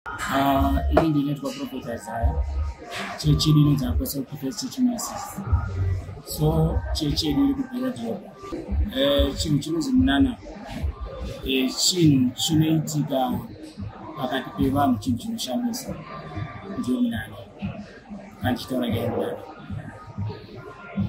Ah, ini ndinoitwa prophet isaya chechi yedu inonzi apostle prophet chechi masis so chechi yedu iri kubhira jehovha eh, chinhu chinonzi munana eh, chinhu chinoitika pakati pevanhu chinhu chinoshamisa ndio munana Achitaura nyaya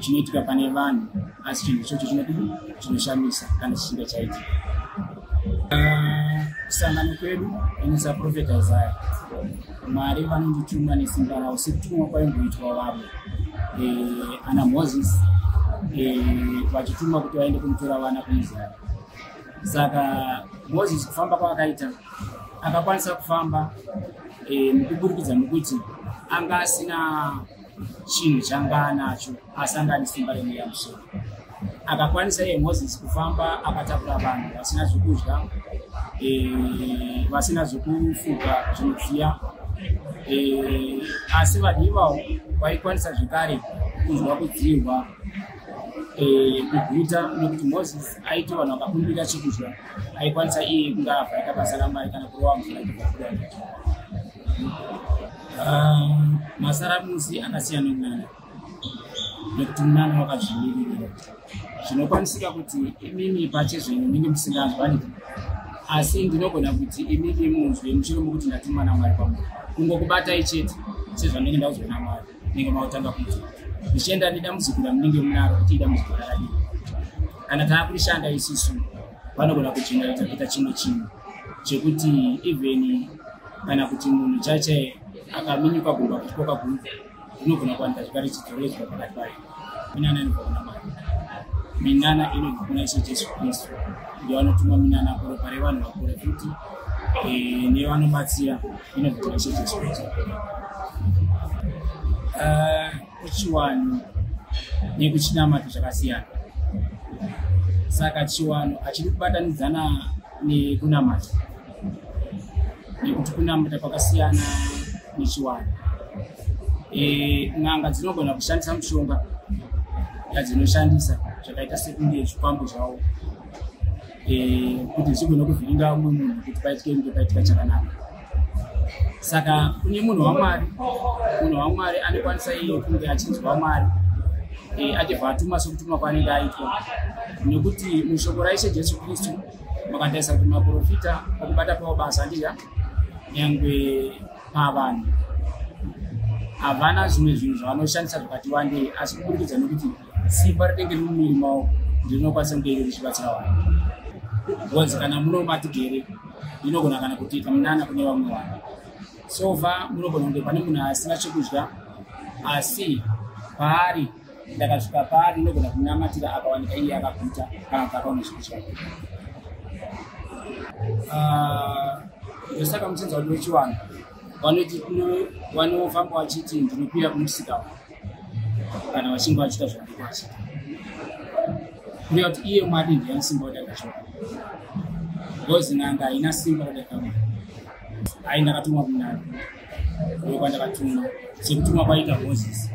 chinoitika pane vanhu asi chinhu ichocho chinoti chinoshamisa kana chichinge chaitika kusangano kwedu inoisa profeta isaya mwari vanondituma nesimba ravo sekutumwa kwaimboitwa vamwe eh, ana moses eh, vachituma kuti vaende kunotora vana kumuzana saka moses kufamba kwaakaita akakwanisa kufamba eh, nekuburikidza nekuti anga asina chinhu changa anacho asi anga ane simba remweya musoro akakwanisa iye moses kufamba akatakura vanhu vasina zvekudya eh, vasina zvekufuga zvinodziya eh, asi vanhu ivawo vaikwanisa zvekare kunzwa kudziirwa kuguta nekuti moses aiti vanhu vakakumbira chekudya aikwanisa iye kunga avhaika basa ramai kana kurova mvura ichivakuda um, masaramusi anasiyana kunana nekuti munana wakazvimiririra zvinokwanisika kuti imimi pache zvenyu munenge musinganzwani asi ndinogona kuti imimi munzwe mushure mokuti ndatumwa namwari kwamuri kungokubatai chete sezvandenge ndauzwa namwari munenge makutanga kuita zvichienda nedambudziko ramunenge munaro kuti idambudziko rakadii kana tava kurishanda isisu vanogona kujeneraita kuita chimwe chinhu chekuti even kana kuti munhu chaichai akaminyuka gumba kutikoka gumba rinogona kuwanika zvekare chidzoredzwa pakati payo minana inobva kuna mwari minana inobva kuna ishe jesu kristu ndiyo anotuma minana kuropa revanhu vakura futi eh, ndiyo anobatsira inobva kuna ishe jesu kristu eh, kuchiwano nekuchinamato zvakasiyana saka chiwano hachidi kubatanidzana nekunamata nekuti kunamata kwakasiyana nechiwani e, n'anga dzinogona kushandisa mushonga yadzinoshandisa zvakaita sekunge zvikwambo zvavo e, kuti zvichigona kuvhiringa umwe munhu kuti paitike kunge paitika chakanaka saka kune munhu wamwari munhu wamwari anokwanisa iye kunge achinzwa mwari e, achibva atuma sekutumwa kwaanenge aitwa nekuti mushoko raishe jesu kristu makandaisa kuti maprofita okubata pawo basa ndiya nyangwe pavanhu havana zvimwe zvinhu zvavanoshandisa zvakati wandei asi kuburikidza nekuti simba rinenge riri mumiri mavo ndinokwanisa kunge iro richibatsira vanhu bcause kana muno matigere inogona kana kutiita munana kune vamwe vanhu so far munogona kunge pane munhu asina chekudya asi paari ndakasvika paari ndinogona kunamatira akawanika iye akakuta kana kuti akaona zvipi chake ah, ndosaka muchinzi vanhu vechivanhu vanoti vanofamba vachiti ndinopira kumusika wavo kana vachinge vachiita zvavanoita vachita kureva kuti iye mwari ndiye anesimba kuti akashora bcause nanga haina simba kuti akamwa hayi ndakatumwa kunana kwandakatuma sekutuma kwaita moses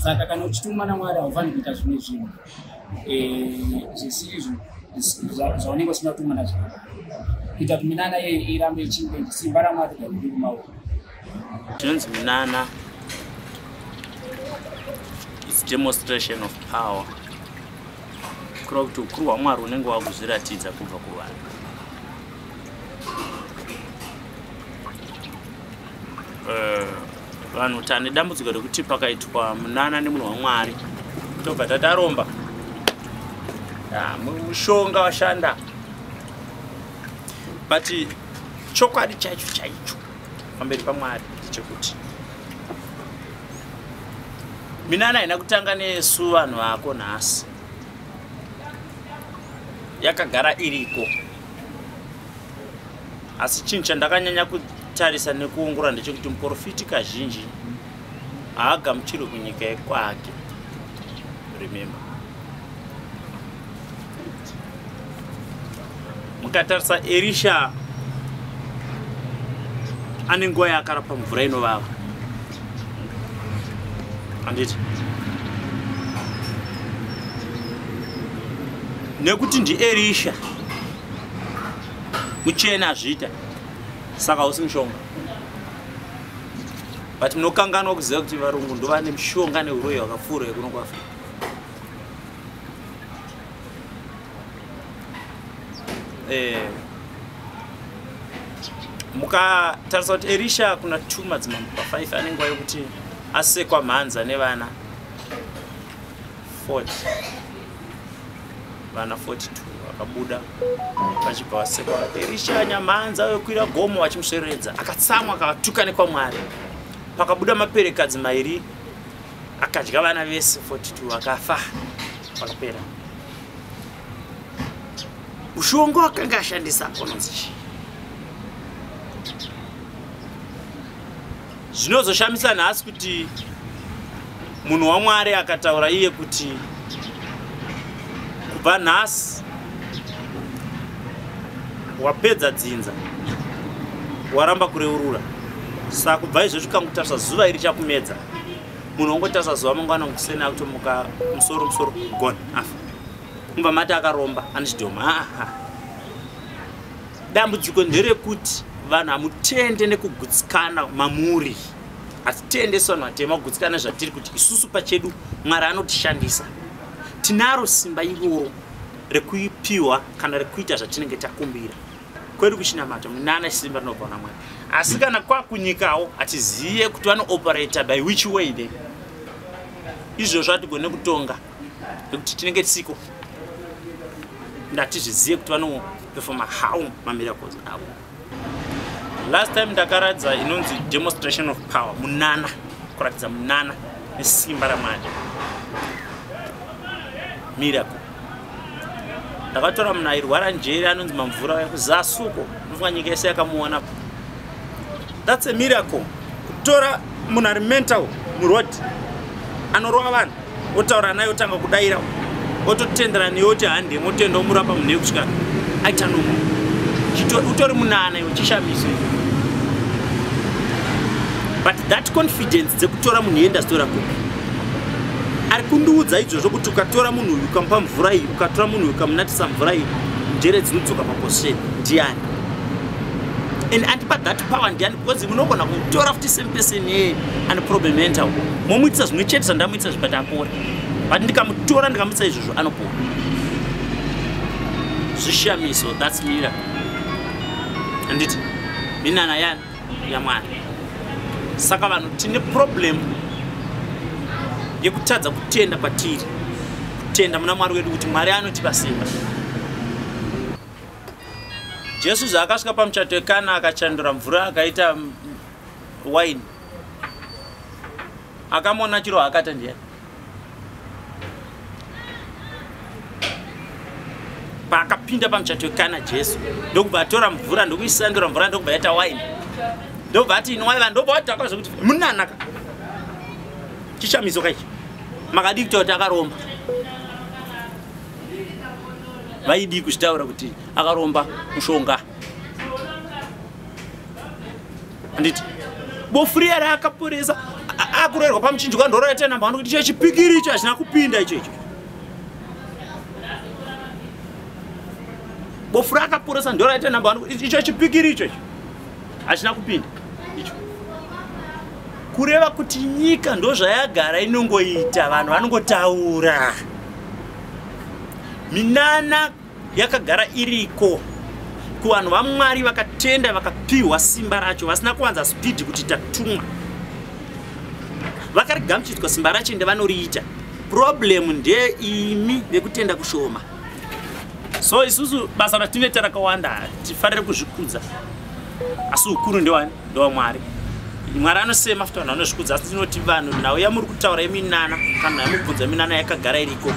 saka kana uchituma namwari haufaniri kuita zvimwe zvinhu eh, zvisizvo zvaunenge usina kutuma nazvo kuita kuti minana iye irambe ichinge simba ramwari gairi kumaoko zvinonzi minana its demonstration of power kureva kuti ukuru hwamwari unenge wakuzviratidza kubva kuvanhu Eh, vanhu uh, tane dambudziko rekuti pakaitwa munana nemunhu wamwari tobva tataromba ah, mushonga washanda but chokwadi chacho chaicho pamberi pamwari chekuti minana haina kutanga nesu vanhu vako nhasi yakagara iriko asi chinhu chandakanyanya kutarisa nekuongorora ndechekuti muporofiti kazhinji haagamuchirwe kunyika yekwake remember mukatarisa erisha ane nguva yaakarapa mvura inovava handiti nekuti ndierisha muchena azviita saka hausi mushonga but munokanganwa kuziva kuti varungu ndovane mushonga neuroyi wakapfuura yekuno kuafrica eh, mukatarisa kuti erisha kuna two madzimambo pafive ane nguva yekuti asekwa mhanza nevana 40 vana 42 vakabuda vachibva vasekwa erisha nyamhanza wekuira gomo vachimusveredza akatsamwa akavatuka nekwamwari pakabuda maperekadzi mairi akadya vana vese 42 vakafa vakapera mushonga wakanga ashandisa anonzi chii zvinozoshamisa nhasi kuti munhu wamwari akataura iye kuti kubva nhasi wapedza dzinza waramba kureurura saka kubva izvozvi kangutarisa zuva iri chakumedza munhu ongotasva zuva mangwana kuseni akutomuka musoro musoro gone afa mumba mati akaromba anechidhoma aa dambudziko nderekuti vanhu hamutende nekugutsikana mamuri hatitende sevanhu vatema kugutsikana zvatiri kuti isusu pachedu mwari anotishandisa tinaro simba iroro rekuipiwa kana rekuita zvatinenge takumbira kwedu kuchinamata munana chisimba rinobva na mwari asi kana kwakunyikawo hatizive kuti vanooperator by which way the izvozvo hatigone kutonga nekuti tinenge tisiko ndatizvizive kuti vanoperfoma how mamiracles avo last time ndakaratidza inonzi demonstration of power munana kuratidza munana nesimba ramwari miracle ndakatora munhu airwara njere anonzi mamvura uya kuzasuko unofunga nyika yese yakamuona thats a miracle kutora munhu ari mental muroad anorova vanhu otaura naye otanga kudaira ototendera neye oti hande motenda omurapa munhu yekusvika aita nomo utori munana iwe chishamiso but that confidence dzekutora munhu yeindastora kupi ari kundiudza izvozvo kuti ukatora munhu uyu ukamupa mvura iyi ukatora munhu uyu ukamunatisa mvura iyi njere dzinodzoka paposition ndiani and andipa that power ndiani because munogona kutora futi same person yeye ane problem entawo momuitisa zvimwe chete zvandamuitisa zvibati apore but ndikamutora ndikamuitisa izvozvo anopora zvishamiso thats mira anditi minana yani yamwari saka vanhu tine problem yekutadza kutenda kwatiri kutenda muna mwari wedu kuti mwari anotipa simba jesu zvaakasvika pamuchato wekana akachandura mvura akaita waini akamona chiro haakata ndiyani paakapinda pamuchato wekana jesu ndokubva atora mvura ndokuisandura mvura ndokubva yaita waini ndobva ati inwai vanhu ndobva wadhakwa zvekuti munanaka chishamiso kaichi makadii kuta kuti akaromba vaidii kuzvitaura kuti akaromba mushonga handiti bofu riya raakaporesa akuroerwa pamuchinjwa ndorora tena mhano kuti chechipikiri icho hachina kupinda icho icho bofu raakaporesa ndorora tena mhano kuti icho chipikiri icho icho hachina kupinda icho kureva kuti nyika ndozvayagara inongoita vanhu vanongotaura minana yakagara iriko kuvanhu vamwari vakatenda vakapiwa simba racho vasina kuwanza spidi kuti tatumwa vakarigamuchidzwa simba racho ende vanoriita problemu ndeimi vekutenda kushoma so isusu basa ratinoita rakawanda tifarire kuzvikudza asi ukuru ndewani ndomwari mwari anosema futi vanhu vanozvikudza asi tinoti vanhu nhau yamuri kutaura yeminana kana nhau yamubvunza yeminana yakagara iriko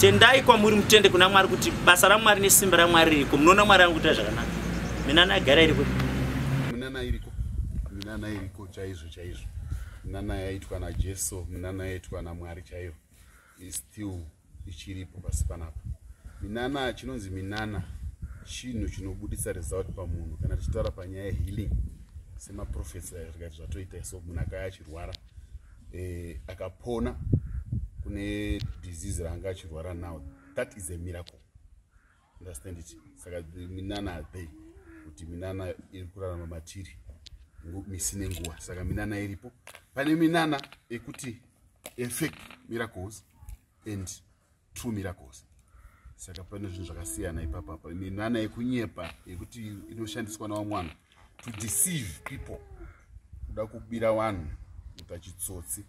tendai kwamuri mutende kuna mwari kuti basa ramwari nesimba ramwari ririko munoona mwari ari kuita zvakanaka minana yagara iriko minana iriko minana iriko chaizvo chaizvo minana yaitwa najesu minana yaitwa namwari chaiyo is still ichiripo pasi panapa minana chinonzi minana chinhu chinobudisa result pamunhu kana tichitaura panyaya yehealing semaprofesa zvikaiti zvatoita so munhu akaya achirwara eh, akapona kune disease raanga achirwara now that is a miracle understand it saka minana adei kuti minana iri kurarama matiri misi nenguva saka minana iripo pane minana ekuti efake miracles and true miracles saka pane zvinhu zvakasiyana ipapapa minana yekunyepa yekuti inoshandiswa nawamwana to deceive people kuda kubira vanhu kuita chitsotsi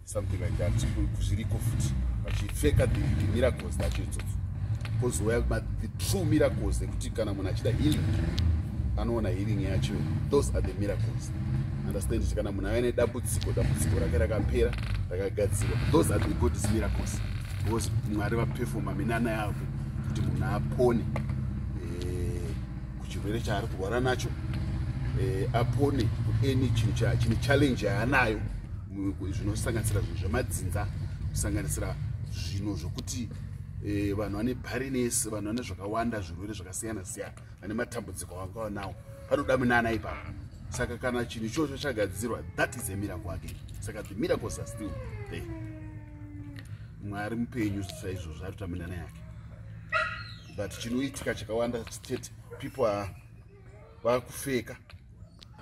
something like that zviriko futi vachipfeka the miracles tacho itsotsi kozouya the true miracles ekuti kana munhu achida healing anoona healing yacho those are the miracles understand kuti kana munhu ave nedambudziko dambudziko rake rakapera rakagadzirwa those are the gods miracles because mwari vapefoma minana yavo kuti munhu apone kuchirwere chaari kurwara nacho eh, apone kueni chinhu chine challenge yaanayo zvinosanganisira zvinhu zvemadzinza kusanganisira zvinhu zvokuti eh, vanhu vane barines vanhu vane zvakawanda zvirwere zvakasiyana siyana vane matambudziko avangava nawo panoda minana ipapo saka kana chinhu ichocho chagadzirwa that is a miracle again saka the miracles are still there mwari mupenyu saizvozvo ari kutaminana yake but chinoitika chakawanda chete people are vakufeka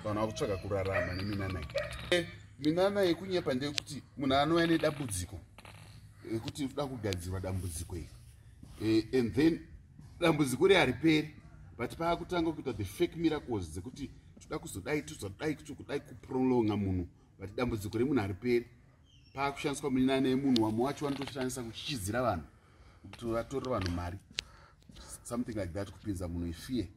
vanhu vakutsvaga kurarama neminana iyi eh, minana yekunyepa ndeyekuti munhu anouya nedambudziko yekuti eh, da kugadzirwa dambudziko iri eh, and then dambudziko ri hariperi but paakutanga kuita the fake miracles dzekuti toda kuzodai tozodai kuti kudai kuprolonga munhu but dambudziko remunhu hariperi paakushandiswa minana yemunhu wamwe wacho vanotoshandisa kuchichidzira vanhu kuti vatorera vanhu mari something like that kupinza munhu ifear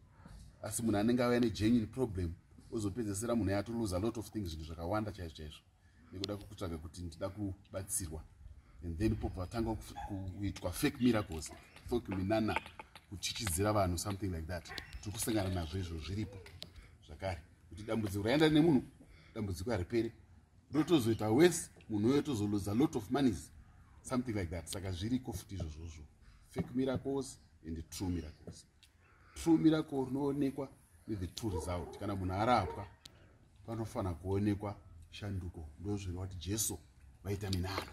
asi munhu anenge auya negenuine problem ozopedzesera munhu yatoluza lot of things zvinhu zvakawanda chaizvo chaizvo nekuda kutsvaga kuti ndida kubatsirwa and then popo vatanga kuitwa fake miracles fake minana kuchichidzira vanhu something like that tiri kusangana nazvo izvo zviripo zvakare kuti dambudziko raenda nemunhu dambudziko hariperi rotozoita worse munhu uyo tozoloza lot of monies something like that saka zviriko futi izvozvozvo fake miracles and true miracles true miracle rinoonekwa nethe true result kana munhu arapwa panofanira kuonekwa shanduko ndozvinoati jesu vaita minano